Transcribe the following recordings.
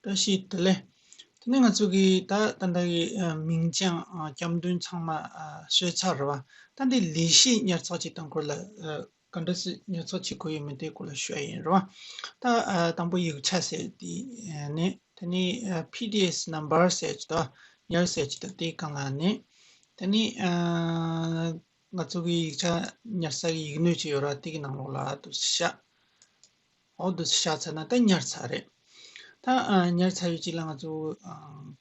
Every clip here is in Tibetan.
བཀྲ་ཤིས་བདེ་ལེགས། དེ་ནས་ང་ཚོ་གི་ད་ད་ལྟ་གི་མིང་བྱང་སྐྱབས་མགྲོན་ཚང་མ་གསོལ་ཚར་བ། ད་འདི་ལས་གཞི་ཉར་ཚགས་བྱེད་སྟངས་སྐོར་ལ་ག་འདྲ་སི་ཉར་ཚགས་བྱེད་དགོས་ཡོད་མེད་དེ་སྐོར་ལ་ཤོད་ཡིན་རེད་བ། ད་དང་པོ་ཡིག་ཆ་ཟེར་དེ་ནི་དེ་ནི PDS Number ཟེར་ཅི་ད་ཉར་ཟེར་ཅི་ད་དེ་གང་ལ་ནི། དེ་ནི་ང་ཚོ་གི་ཡིག་ཆ་ཉར་ས་གི་ཡིག་སྣོད་ཅིག་ཡོད་ར་དེ་གི་ནང་ལོགས་ལ་དུ་ཤ། འོག་ཏུ་བཞག་ཚར་ན་ད་ཉར་ཚར་རེད། ད་ཉར་ཚར་ཡོད་ཅིག་ལ་ང་ཚོ་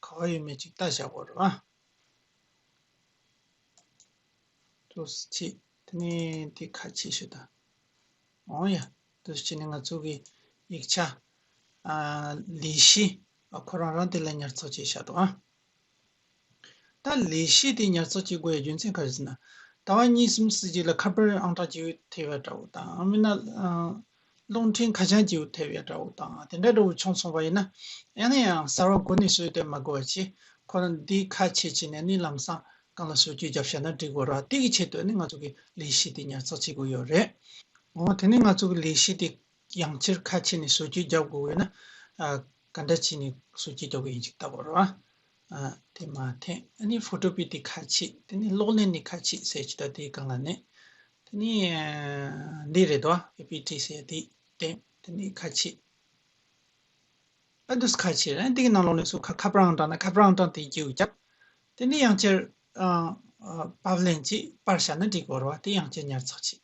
ག་བ་ཡོད་མེད་ཅིག་བལྟ་བཞག་གོ་རེད་བ། ཏུ་སུ་ཆི་དེ་ནས་དེ་ཁ་ཆེ་ཤོས་དང། འོང་ཡ། ཏུ་སུ་ཆི་ནི་ང་ཚོ་གི་ཡིག་ཆ། ལི་ཤི། ཁོ་རང་རང་དེ་ལ་ཉར་ཚགས་བྱས་བཞག་འདུག་ཨ། ད་ལས་གཞི་དེ་ཉར་ཚགས་བྱེད་དགོས་པའི་རྒྱུ་མཚན་ག་རེ་ཟེར་ན། ད་བར་གཉིས་གསུམ་བསྲེས་རྗེས་ལ་ཁ་དཔེར་ཨང་གྲངས་བཅུ་ཐེབས་ཡག་འདྲ་བོ་དང་ཨང་མིན་ན། རླུང་འཕྲིན་ཁ་བྱང་བཅུ་ཐེབས་ཡག་འདྲ་བོ་དང་དེ་འདྲ་འདྲ་བོ་བྱུང་སོང་བ་ཡིན་ན། ཡང་ན་ཡང་གསར་བ་འགོ་ནས་བཟོས་ཏེ་མ་དགོས་པ་བྱས་ཁོ་ན་འདི་ཁ་ཕྱེ་ཕྱེ་ནས་ནི་ལམ་སང་གང་ལ་སོ་བཅུད་བརྒྱབ་བཞག་ན་འགྲིག་བ་ར་སྟེ་གི་ཆེད་དུ་ནི་ང་ཚོ་གི་ལས་གཞི་དེ་ཉར་ཚགས་བྱེད་དགོས་ཡོད་རེད། འོ་དེ་ནི་ང་ཚོ་གི་ལས་གཞི་དེ་ཡང་ཕྱིར་ཁ་ཕྱེ་ནས་བཟོ་བཅོས་རྒྱག་དགོས་འོས་ན། ག་འདྲ་བྱས་ནས་བཟོ་བཅོས་རྒྱག་དགོས་ཡིན་ཞིག་ལྟ་བར། དེ་མ་ཐེངས་ཨ་ནི་ཕོཏོ་པི་ཏི་ཁ་ཕྱེ་དེ་ནི་གློག་ཀླད་ནས་ཁ་ཕྱེ་ཟེར་གྱི་ད་དེའི་སྒང་ལ་ནི། དེ་ནི་འདི་རེད་དོ་ཨེ་པི་ཏི་ཟེར་དེ་བསྟན་དེ་ནི་ཁ་ཕྱེ། ཨ་འདུས་ཁ་ཕྱེ་རེད་འདི་གི་ནང་ལོགས་ནས་སུ་ཁ་ཁ་པར་ཨང་གྲངས་ན་ཁ་པར་ཨང་གྲངས་དེའི་རྒྱུ་བརྒྱབ། དེ་ནི་ཡང་ཕྱིར། པར་ལེན་གྱིས་པར་བྱ་ན་འགྲིག་བར་བ་དེ་ཡང་ཕྱིར་ཉར་ཚགས་བྱེད།